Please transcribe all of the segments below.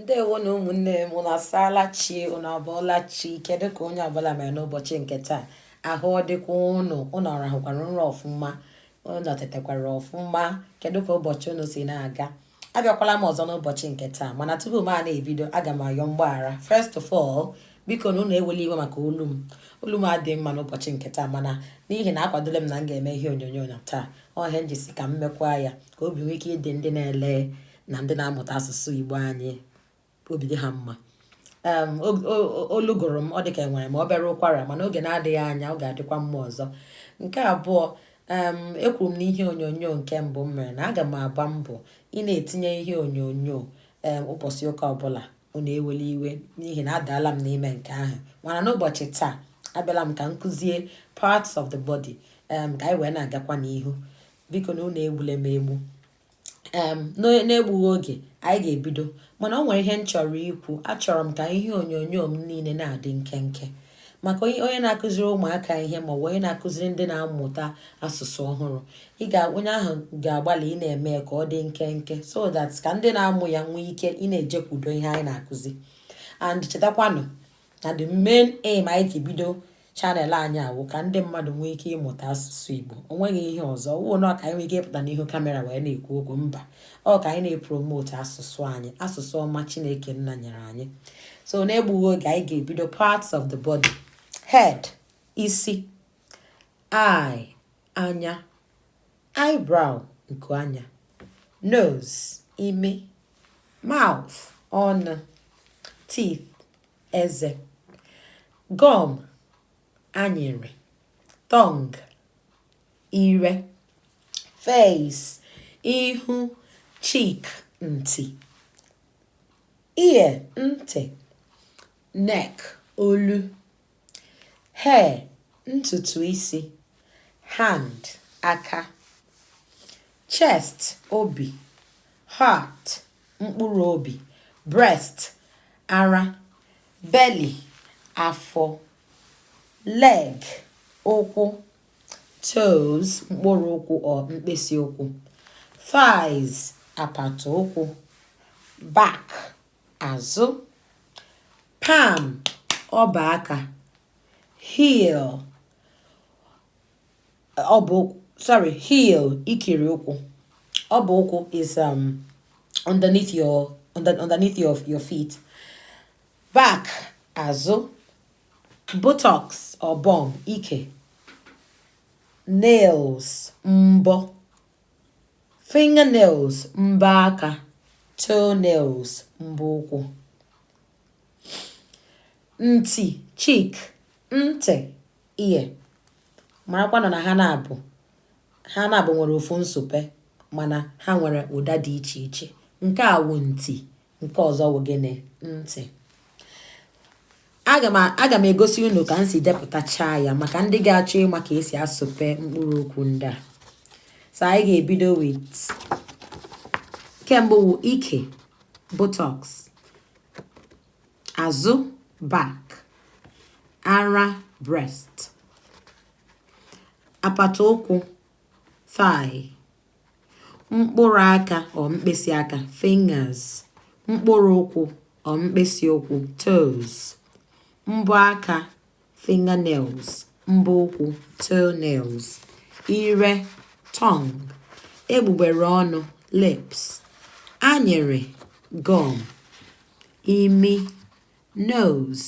ndewo nụ ụmụnne m ụnụ asaala chi ụnụ abụọla chi kedu ka onye ọbụla mere n'ụbọchị nke taa ahụ ọ dịkwa ụnụ ụnụ ọrahụkwara nrọ ọfụma ụnụ tetekwara ọfụma kedu ka ụbọchị ụnụ si na-aga abịakwala m ọzọ n'ụbọchị nke taa mana tupu m a na-ebido aga m ayọ mgbaghara first of all biko nụ ụnụ ewele iwe maka olu m olu m adịghị mma n'ụbọchị nke taa mana n'ihi na akwadole m na m ga-eme ihe onyonyo na taa ọ ihe m ji sị ka m mekwa ya ka obi nwee ike ịdị ndị na-ele na ndị na-amụta asụsụ igbo anyị obi dị ha mma olu gụrụ m ọ dịka enwere m obere ụkwara mana oge na-adịghị anya ọ ga-adịkwa mma ọzọ nke abụọ ekwuru m n'ihe onyonyo nke mbụ m mere na aga m agba mbọ ị na-etinye ihe onyonyo ụbọchị ụka ọbụla unu ewele iwe n'ihi na adaala m n'ime nke ahụ mana n'ụbọchị taa abịala m ka m kụzie parts of the body um, ka anyị wee na-agakwa n'ihu biko nụ unu egbule m egbu um, n'egbughị oge anyị ga-ebido mana o nwere ihe m chọrọ ikwu achọrọ m ka ihe onyonyo m niile na-adị nkenke maka onye na-akụziri ụmụaka ihe ma ọ bụ onye na-akụziri ndị na-amụta asụsụ ọhụrụ ị ga onye ahụ ga-agbalị ị na-eme ka ọ dị nkenke so that ka ndị na-amụ ya nwee ike ị na-ejekwudo ihe anyị na-akụzi and chetakwanụ na the main aim anyị ji bido channel anyị a wụ ka ndị mmadụ nwee ike ịmụta asụsụ Igbo o nweghị ihe ọzọ wụnọ ka anyị nwee ike ịpụta n'ihu kamera wee na-ekwu okwu mba ọ ka anyị na-epromote asụsụ anyị asụsụ ọma chineke nna nyere anyị so na-egbughị oge anyị ga-ebido parts of the body head isi eye anya eyebrow nku anya nose imi mouth ọnụ teeth eze gum anyịrị tongue ire face ihu cheek nti ear ntị neck olu hair ntutu isi hand aka chest obi heart mkpụrụ obi breast ara belly afọ leg ụkwụ toes mkpụrụ ụkwụ or mkpịsị ụkwụ thighs apata ụkwụ back azụ palm ọba aka heel ọ bụ sorry heel ikiri ụkwụ ọba ụkwụ is um, underneath your underneath your, your feet back azụ buttocks or bum ike nails mbọ fingernails mbọ aka toenails mbọ ụkwụ nti cheek ntị ear marakwanụ na ha n'abụọ ha n'abụọ nwere ofu nsupe mana ha nwere ụda dị iche iche nke a wụ nti nke ọzọ wụ gịnị ntị aga m egosi unu ka m si depụtacha ya maka ndị ga-achọ ịma ka esi asụpe mkpụrụ okwu ndị a so anyị ga-ebido with nke mbụ wụ ike buttocks azụ back ara breast apata ụkwụ thigh mkpụrụ aka or mkpịsị aka fingers mkpụrụ ụkwụ or mkpịsị ụkwụ toes mbọ aka fingernails mbọ ụkwụ toenails ire tongue egbugbere ọnụ lips anyịrị gum imi nose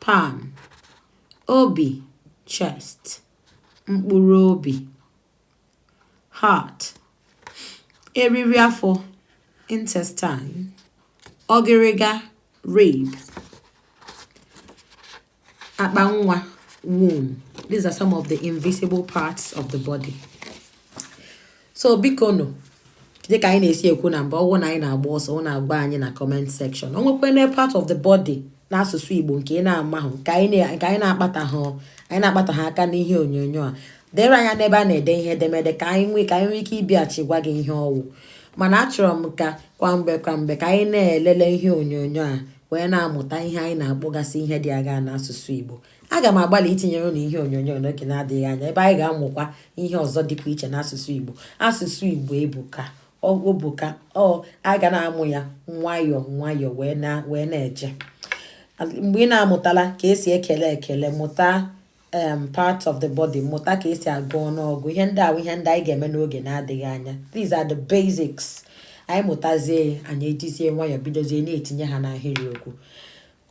palm obi chest mkpụrụ obi heart eriri afọ intestine ọgịrịga rib akpa nwa womb these are some of the invisible parts of the body so biko nụ dịka anyị na-esi ekwu na mgbe ọ wụna anyị na-agba ọsọ ọ na-agwa anyị na comment section o nwekwanụ part of the body n'asụsụ igbo nke ị na-amahụ nke anyị na-akpataha anyị na-akpataha aka n'ihe onyonyo a deere anyị n'ebe a na-ede ihe edemede ka anyị nwee ka anyị nwee ike ịbịachi gwa gị ihe ọ wụ mana achọrọ m ka kwa mgbe kwa mgbe ka anyị na-elele ihe onyonyo a wee na-amụta ihe anyị na-akpọgasị ihe ndị a ga n'asụsụ igbo aga m agbalị itinyere unu ihe onyonyo n'oge na-adịghị anya ebe anyị ga-amụkwa ihe ọzọ dịkwa iche n'asụsụ Igbo asụsụ Igbo ebuka o buka ọ a ga na-amụ ya nwayọọ nwayọọ wee na wee na-eje mgbe ị na-amụtala ka esi ekele ekele mụta um part of the body mụta ka esi agụ ọnụọgụ ihe ndị ahụ ihe ndị anyị ga-eme n'oge na-adịghị anya these are the basics anyị mụtazie anyị ejizie nwayọọ bidozie na-etinye ha n'ahịrịokwu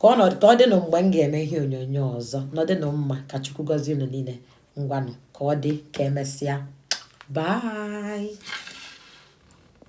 ka ọ dịnụ mgbe m ga-eme ihe onyonyo ọzọ nọdịnụ mma ka chukwu gọzie unu niile ngwanụ ka ọ dị ka emesịa bye